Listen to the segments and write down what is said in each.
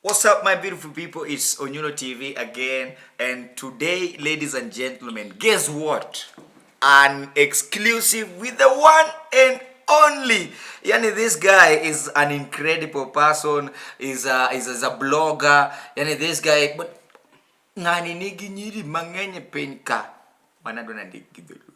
What's up, my beautiful people? It's Onyulo TV again, and today, ladies and gentlemen, guess what? An exclusive with the one and only. Yani, this guy is an incredible person, is a, is, is a blogger. Yani, this guy, but ngani nigi nyiri mang'eny e piny ka wanadwa nandikgi dholuo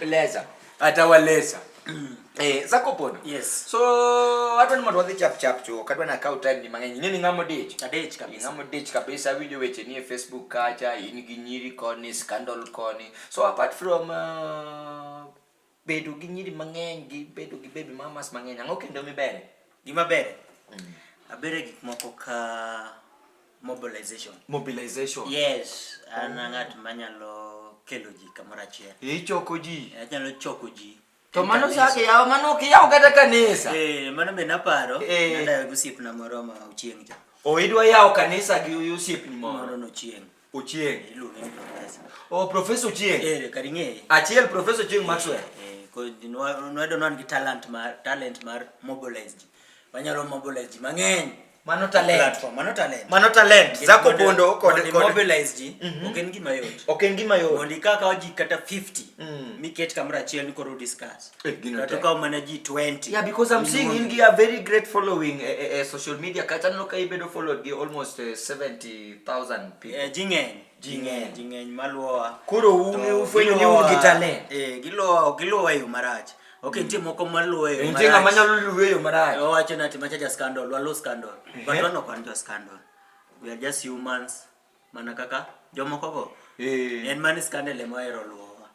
Leza. Atawaleza. Mm. Eh, zako pono. Yes. So watu ni mwadhi chap chap tu. Kadwa na kau time ni mangenyi. Nini ngamo ditch? Na ditch kabisa. Ngamo ditch kabisa video weche ni Facebook kacha, ini ginyiri koni, scandal koni. So apart from uh, bedo gi nyiri mang'eny gi bedo gi baby mamas mang'eny ang'o kendo mibere gima bere mm. abere gik moko ka mobilization mobilization yes an oh. ng'at manyalo kelo ji kamoro achiel ichoko ji anyalo choko ji to mano sake yawa mano ok yaw kata kanisa eh mano be naparo eh. nadayo gi osiepna moro ma ochieng' cha o oh, idwa yawo kanisa gi osiepni moro nochieng' ochieng' eh, iluonge ni profesa o oh, profesa ochieng' eh kar ing'eye achiel profesa ochieng' maxwell eh, eh ko nwadono an gi talent mar talent mar mobilize ji Wanyalo mobilize ji mang'eny. Mano talent. Platform, mano talent. Mano talent. Yes, Zako mondo- Pondo kod mondo kod imobilize ji, Mhm. ok en gima yot. ok en gima yot. Mondo ikaw kaw ji kata 50, Mm. miket kamoro achiel ni koro discuss. Eh, gino Kata tek. ukaw mana ji 20. Yeah, because I'm seeing in gi a very great following eh, eh, eh, social media kata aneno ka ibedo followed gi almost eh, 70,000 people. Eh, ji ng'eny. ji ng'eny ji ng'eny maluwowa koro un ufwenyo ni un gi talent eh giluwo giluwo e yo marach ok nitie moko maluwo e yo marach nitie ng'ama nyalo luwo e yo marach owacho nati macha ja scandal walo scandal eh. but wan ok wan jo scandal we are just humans mana kaka jomoko go eh. en mani scandal ema ohero luwowa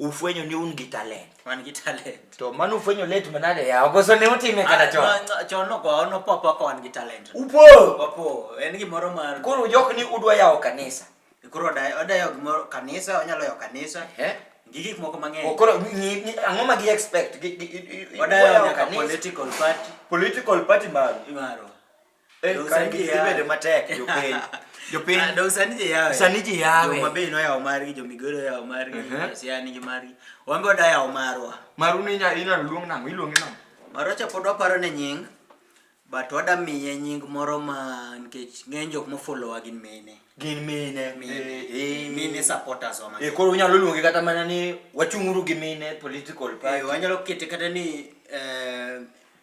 ufwenyo ni un gi talent wan gi talent to mano ufwenyo late manade ya ogoso ne utime kata ah, chon chon no kwa ono pop kwa wan gi talent upo upo en gi moro mar koro jok ni udwa yawo kanisa koro odayo odayo gimoro kanisa onyalo yawo kanisa eh gi gik moko mang'eny oh, koro ang'o ma gi expect odayo nyaka political party political party maro maro Eh, Dong' sani ji yawe. Ibedo matek jopiny. Jopiny. Ah, dong' sani ji yawe. Sani ji yawe. Joma be noyawo margi, jo Migori oyawo margi, Mhm. Siaya nigi margi. Wan be wadayawo marwa. Maru ni inya- inyalo luong nang'o? Iluonge nang'o? Marocha pod waparo ne nying, but wada miye nying moro ma nikech ng'eny jok mofollowa gin mine. Gin mine. Mine. Eh, eh. Mine supporters wa Eh, koro unyalo luonge kata mana ni wachung'uru gi mine political party. Eh, wanyalo kete kata ni eh,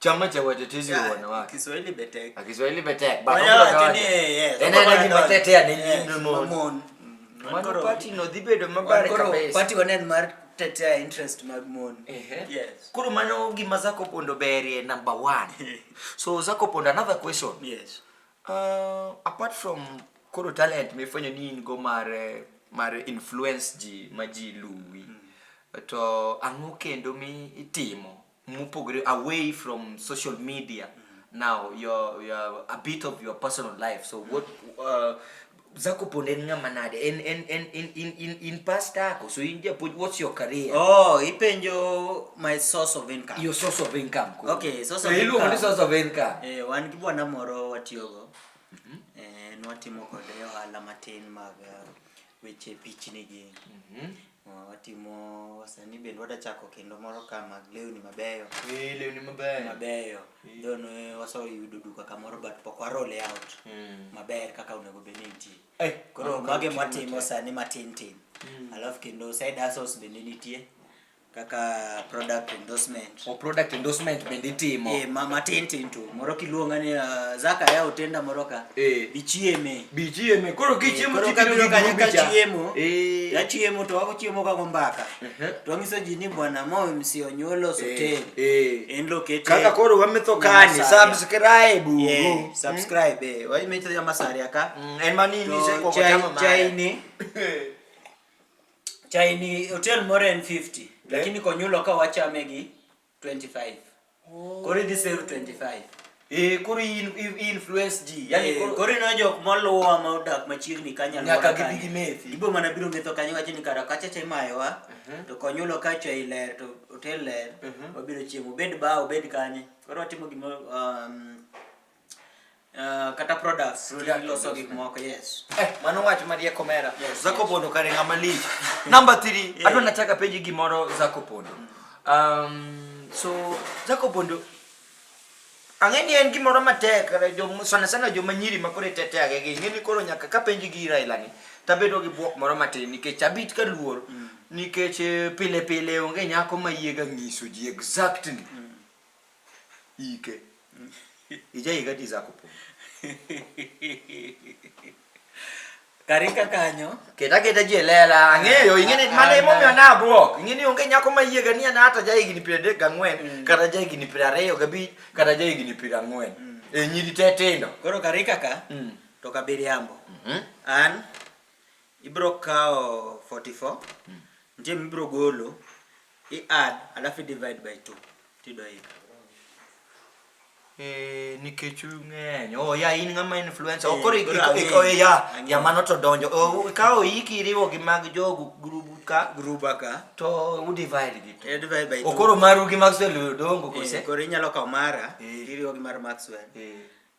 Chama cha watetezi wa wanawake. Kiswahili betek. Ah, Kiswahili betek. Ba kwa ni yes. Ene na kimatetea ni nyimno. Mano party no dibedo mabare kabisa. Party wanen mar tetea interest mag mon. Ehe. Yes. Kuru mano gima zako pondo berie number 1. So zako pondo another question. Yes. Uh, apart from koro talent mifanya nini go mar eh, mar influence ji ma ji luwi. Mm. To ang'o kendo mi itimo mopogore away from social media mm-hmm. now your, your a bit of your personal life so what uh, zako ponde en ng'ama nade en en en in in in in pastor ako so in japuonj what's your career oh ipenjo my source of income your source of income cool. okay source of so income iluongo ni source of income eh wan gi bwana moro watiyogo mm -hmm. eh nwatimo kode ohala matin mag uh, weche pichni gi mm -hmm. watimo sani bende wada chako kendo moro ka mag lewni mabeyo eh lewni mabeyo mabeyo eh. don eh, waseyudo duka kamoro but pok warole out hmm. maber kaka onego bed ni nitie eh, koro mage mwatimo sani matin tin hmm. alafu kendo side hustles bende nitie kaka product endorsement o product endorsement bende itimo eh ma matin tin to moro kiluonga ni uh, zaka ya otenda moro ka eh bichieme bichieme koro kichiemo eh, koro biro kanyo ka chiemo eh ya chiemo to wako chiemo ka gombaka uh -huh. to wangiso ji ni bwana mo msi onyolo eh, sotel eh en located kaka koro wametho kani subscribe yeah, mm. subscribe mm. eh wai metho ya masari aka mm, en mani ni se ko chai ni Chai ni hotel moro en 50 eh? lakini konyulo ka wachame gi 25. Oh. Koro idhi save 25. Eh, koro influence ji. Yaani eh, koro ino jok moluwa ma odak machiegni kanya nyaka gibi gi methi. Gibo mana biro metho kanya wacho ni kara kacha cha imayowa uh mhm. -huh. to konyulo ka cha iler to hotel ler uh mhm. -huh. wabiro chiemo bed ba obed kanye. Koro watimo gima um, Uh, kata products loso gik moko yes eh, mano wach marie komera yes, zako yes. pondo kare ng'ama lich number 3 yeah. adwa nachaka penji gimoro zako pondo mm. um, so zako pondo ang'e ni en gimoro matek sana sana joma nyiri ma koro itete age gi ng'e ni koro nyaka ka penji gi raila ni tabedo gi bwok moro matin nikech abit ka luor mm. nikech eh, pile pile onge nyako ma yiega nyiso ji exactly mm. ike ijaika ti zakopo karika kanyo keta keta ji elela ang'eyo ing'eni mana emomiyo nabwok ing'eni onge nyako ma yie gani ana hata ja higni piero adek gang'wen mm. kata ja higni piero ariyo gabich kata ja higni piero ang'wen mm. e nyiri te tindo koro karika ka mm. to kabiriambo mm-hmm. an ibro kawo 44 nitie mibro golo I add alafu divide by 2 tidoika. Eh, nikech ung'eny oh ya in ng'ama influencer oh, koro iko eh, ya ya mano to donjo oh, ka oiki iriwo gi mag jogu grubu ka gruba ka to u divide gi to eh, divide by oh, koro maru gi Maxwell dongo kose koro inyalo kawo mara iriwo gi mar Maxwell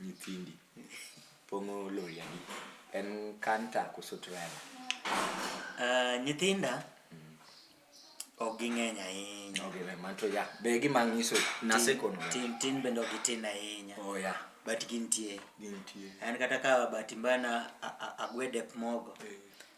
nyithindi pong'o loyani en kanta koso trela uh, nyithinda mm. ok ging'eny ahinya okay, man to ya be gima ng'iso nasekono tin tin bende ok gitin ahinya oh, yeah. but gintie gintie an kata ka bahati mbaya na agwede mogo eh.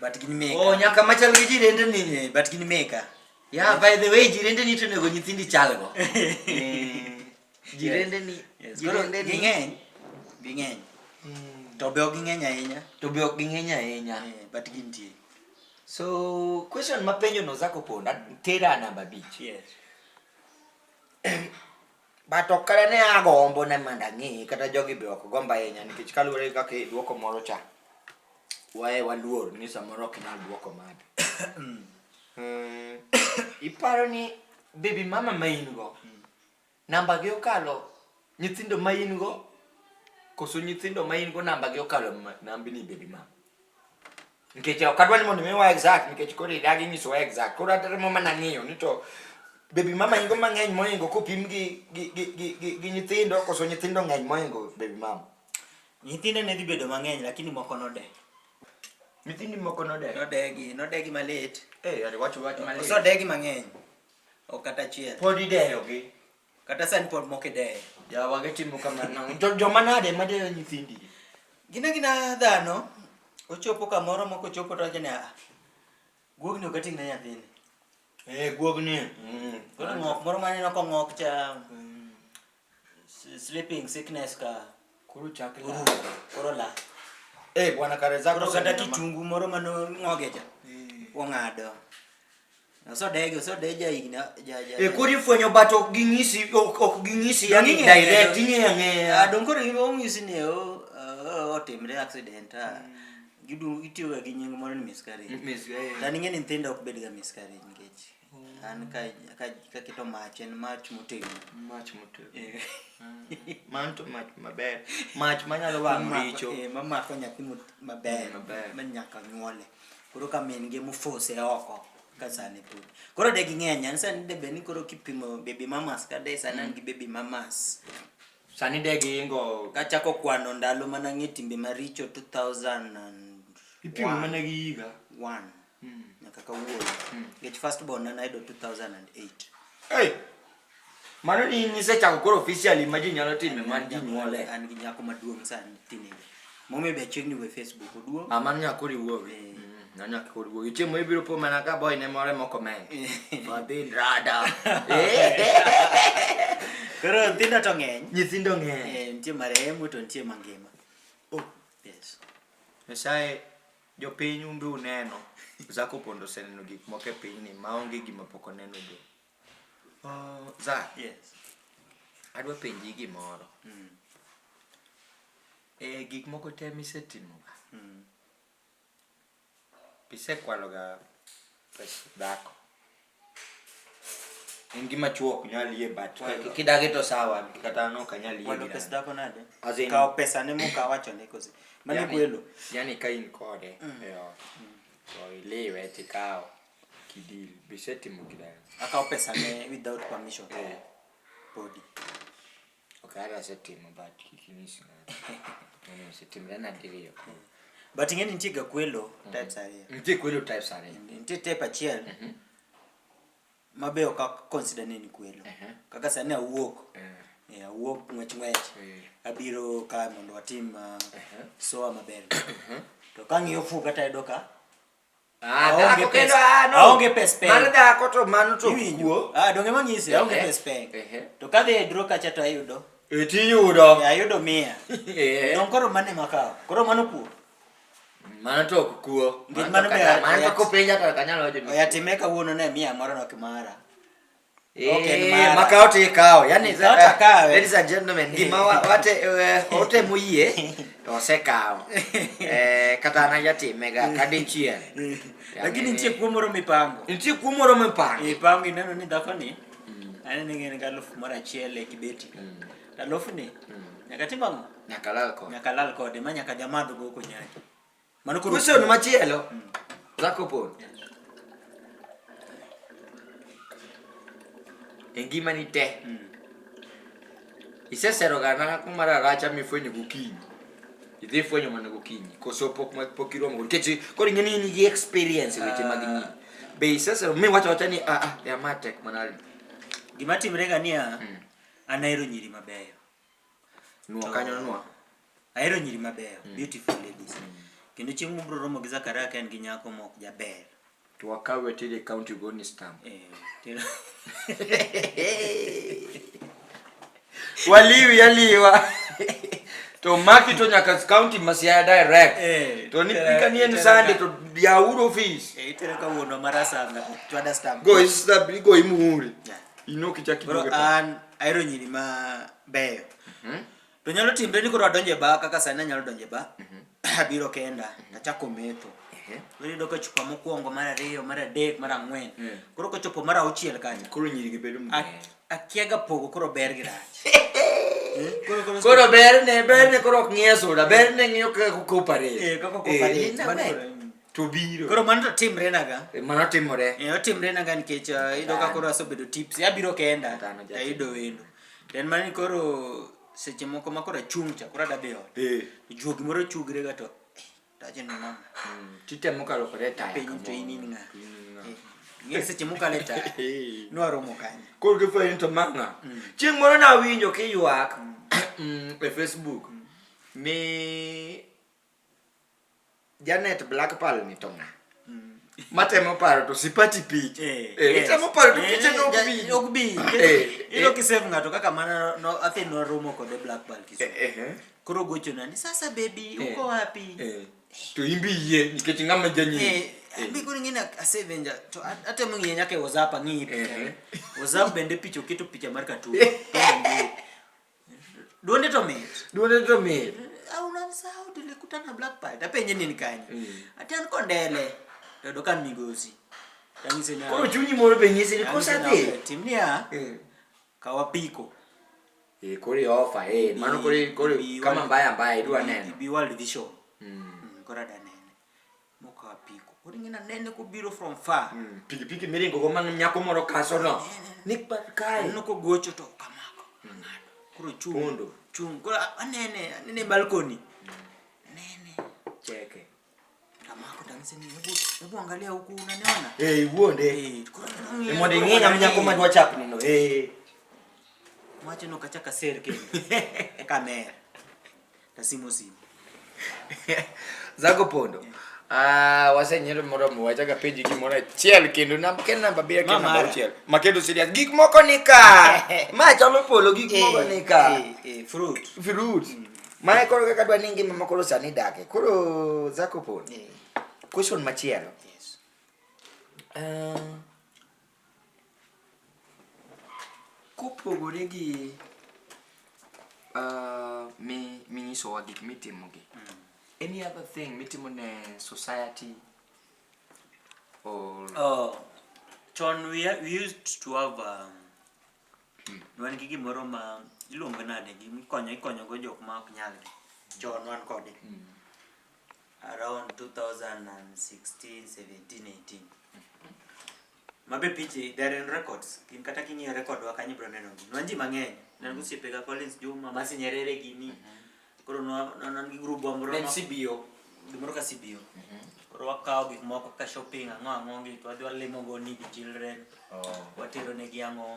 but gin meka oh nyaka machal gi jirende ni eh, but gin meka yeah by the way jirende ni to nego nyithindi chalgo jirende ni jirende ni ging'eny ging'eny hmm. to be ok ging'eny ahinya to be ok ging'eny ahinya eh, but gintie so question mapenjo no zako ponda tera namba bich yes but ok kata ne agombo ne mondo ang'e kata jogi be ok gombo ahinya nikech kaluwore gi kaka idwoko moro cha waye waluor ni samoro ok inyal dwoko made Hmm, iparo ni baby mama ma in go namba gi okalo nyithindo ma in go koso nyithindo ma in go namba gi okalo ma- nambi ni baby mama nikech ok adwa ni mondo imiwa exact nikech koro idagi nyisowa exact koro atemo mana ng'iyo ni to bebi mama ingo mang'eny moingo kopim gi, gi, gi, gi, gi, gi nyithindo koso nyithindo ng'eny moingo bebi mama nyithindo ne dhi bedo mang'eny lakini moko node nyithindi moko node nodegi nodegi malit eh, yani wacho wacho malit. oso degi mang'eny ok kata achiel pod ideyogi Kata sani pod moko ideyo. Yawa gitimo kamano. Jo- Joma nade ma deyo nyithindi? Gina gina dhano, ochopo kamoro moko chopo to wacho ni ah, guogni ok ating' ne nyathini. Eh, guogni. Mm. Koro ng'ok moro maneno kong'ok cha, mm, s- sleeping sickness ka. Koro chak la. Uru, koro la. Eh, bwana kare zako Koro kata oseneno ma- kitungu moro mano ng'oge cha. Ong'ado. Osodege, osodeja higni ja ja. Eh, koro ifwenyo but ok ging'isi ok ok ging'isi yani Ing'eyo, direct ing'eyo. ing'eyo Ah, ang'eya. dong koro gima ong'isi ni o- o- otimre accident ah. Gidu- Gitiyoga gi nying moro ni miscarriage. Miss, eh. Tani ng'e ni nyithindo ok bedga miscarriage nikech an ka ka kaketo mach en mach motegno mach motegno eh. mm. man to mach maber mach manyalo wang' richo eh, mamako nyathi maber mm, ma nyaka nyuole koro ka min gi mofose oko ka sani pud koro de ging'eny an sani de bed ni koro kipimo baby mamas ka de sani an mm. gi baby mamas sani de giingo kachako kwano ndalo mana ng'e timbe maricho 2000 ipimo mana gi higa 1 mm. nyaka kawuono mm. nikech first born na nayudo 2008 hey! mano ni nisechako koro officially ma ji nyalo time man ji nyuole an gi nyako maduong' sani teenager momiyo be achiegni we facebook oduong' ah, mano nyako riwuowi eh. mm. nanya koriwo iche mo ibiro po mana ka boy ne more moko men fadhi rada koro nyithindo to ng'eny nyithindo ng'eny eh, nitie marehemu to nitie mangima oh yes nyasaye Jopiny un be uneno, Zak Opondo oseneno gik moko e pinyni maonge gima pok oneno go. Oh, Zak, Yes. adwa penji gimoro. Mm. E gik moko te misetimoga, Mm. isekwaloga pes dhako? en gima chuo ok nyal yie but kidagi to sawa kata no ok nyal yie walo pesa dako nade kawo pesa ne muka wacho ne kosi mane kwelo yani ka in kode mm. e ot mm. to iliwe tikawo kidil bisetimo kidal akawo pesa ne without permission eh. body Okay, hata asetimo but kik inyis ng'ato. Mano osetimre na diriyo. But ing'e ni nitie gakwelo types ariyo. Nitie kwelo types ariyo. Nitie type achiel ma be ok ak- consider ni en kwelo. Ehe. Kaka sani awuok. Eh, Eh, awuok ng'wech ng'wech. eh, Abiro ka mondo watim ah, ehe. soa maber. To kang'iyo fuga tayudo ka Ah, dhako kendo ah, no. Aonge pes peng. Mar dhako to mano to kuo. Ah, donge mang'ise aonge eh, pes peng. Eh, eh. To kadhi e dro kacha to ayudo. E ti yudo. Ayudo mia. Don koro mane makawo. Koro mano kuo. Mano to ok kuo. Ngit mano be. Mano to kopenja to kanyalo wacho. Oya time kawuono ne mia moro no kimara. Eh, maka ote kao yani eh, ladies and gentlemen gima wate eh, ote muye ose kao eh kata na yati mega mm. kadin chien mm. lakini ntie kuomoro mipango ntie kuomoro mipango mipango ineno ni dhako ni mm. ani ni ngene galofu mara chele kibeti galofu ni nyaka timango nyaka lal kode nyaka lal kode ma nyaka jamadho go ko nyaki Mano koro Question machielo. Zako pon. E ngimani te. Iseseroga dhako mar aracha mifwenyo gokinyi. Idhi ifwenyo mana gokinyi. Koso pok ma- pok iromo go. Nikech koro ing'e ni in gi experience e weche mag nyiri. Be isesero miwacho wacha ni ah ah ya ma tek mana. gima timrega niya Mm. an ahero nyiri mabeyo Nuo kanyo nuo. Ahero nyiri mabeyo, mm. beautiful ladies. Mm. Kendo chieng' mubro romo gi Zakaria ka en gi nyako mok jaber. To wakawe tiri county go ni stamp. Eh, tira. Waliwi yaliwa. to maki to nyaka county Masiaya direct. Eh, to ni pika ni en sande to ya uro office. Eh, tira ka wono marasa na. Go is the go imuri. Yeah. Inoki chakidogeta. Bro, an Ahero nyiri ma beyo. Mhm. To nyalo timre ni koro adonje ba kaka sani anyalo donje ba. Mhm. Abiro kenda, mhm. achako metho. Ehe. Koro yudo ka chupa mokwongo, mar ariyo, mar adek, mar ang'wen. Mm. Koro kochopo mar auchiel kanyo. Koro nyiri gi bedo mang'eny. Akiaga pogo koro ber gi rach. koro berne berne koro ok ng'iye sura berne ng'iyo kaka koparate eh, kaka koparate eh, to biro koro mano to timre na ga eh, mano timore eh otimre na ga nikech eh, ido ka koro asobedo tips abiro kenda ta ido wendo then mani koro seche moko ma koro achung' cha koro adabi ot eh. juogi moro chugre ga to tache ni mama hmm, titemo kalo kore ta piny to in in ng'a ng'e seche mokale ta nwaromo kanye koro gifwenyo to mang'a hmm. chieng' moro nawinjo kiywak hmm. e facebook ni Janet Black Pearl ni to ng'a? Mm. Matemo paro to sipati pich. Eh, eh, yes. Itemo paro to eh, piche no bi. Ok bi. Eh, Ilo eh. kisave ng'ato kaka mana no athi no romo kod Black Pearl kisu. Eh, eh, eh. Koro gocho na ni sasa baby eh. uko wapi? Eh. To imbi ye nikech ng'ama janyi. Eh. eh. Abi kuni ngina asave nja to ate mungi yenyake WhatsApp ng'i picha. Eh, eh. WhatsApp bende picha oketo picha mar katu. Duonde to mit. Duonde to mit. Au na sao dile kutana black pie. Tape nyenye ni kanyo. Mm. Atan ko ndele. To do kan migosi. Tangise na. Ko chunyi moro be nyisi ni kosa ti. Timnia. Mm. Kawa piko. E kore ofa e eh. mano kore kore kama mbaya mbaya idwa neno. Bi world vision. Mm. mm kora dane. Moko apiko. Ori ngina nene ko biro from far. Mm, piki piki miringo go man nyako moro kaso no. Nik pa kai. Neno ko gocho to kamako. Mm. Kuro chung. Kondo. Chung. Kuro anene, anene balcony. Mm. Nene. Cheke. Kamako tangise ni hebu hebu angalia huku unaniona? Eh, hey, uonde. Eh, hey, kuro. Ni mwende nginya mnyako madwa chap nino. Eh. Hey. Mwache no kachaka serke. Kamera. Tasimo simo. Zago pondo. Yeah. Ah, wasenyero moro mo wacha ka page gimoro achiel kendo nam ken namba bia ken namba achiel. Ma kendo serious gik moko ni ka. Ma chalo polo gik eh, moko ni ka. Eh, eh, fruit. Fruit. Mm. Ma e koro kaka dwa ni ngima moko sani dake. Koro zako pon. Question machielo. Yes. Uh, Kopogore gi uh, mi minyisowa gik mitimogi, any other thing mitimo ne society or Oh, chon we, ha- we used to have um, wan gi gimoro ma iluongo nade gi ikonyo ikonyogo jok ma ok nyalgi chon wan kode around 2016 17 18 mabe piche they are in records gin kata king'iyo record wa kanyo bro neno gi nwanji mang'eny nan go siepe ga Collins Juma masi nyerere gini koro nwa nan gi group wa moro Then ma- CBO. gimoro ka CBO koro wakawo gik moko ka shopping ang'o ang'o gi to wadhi walimo go ni gi children Oh. watero ne gi ang'o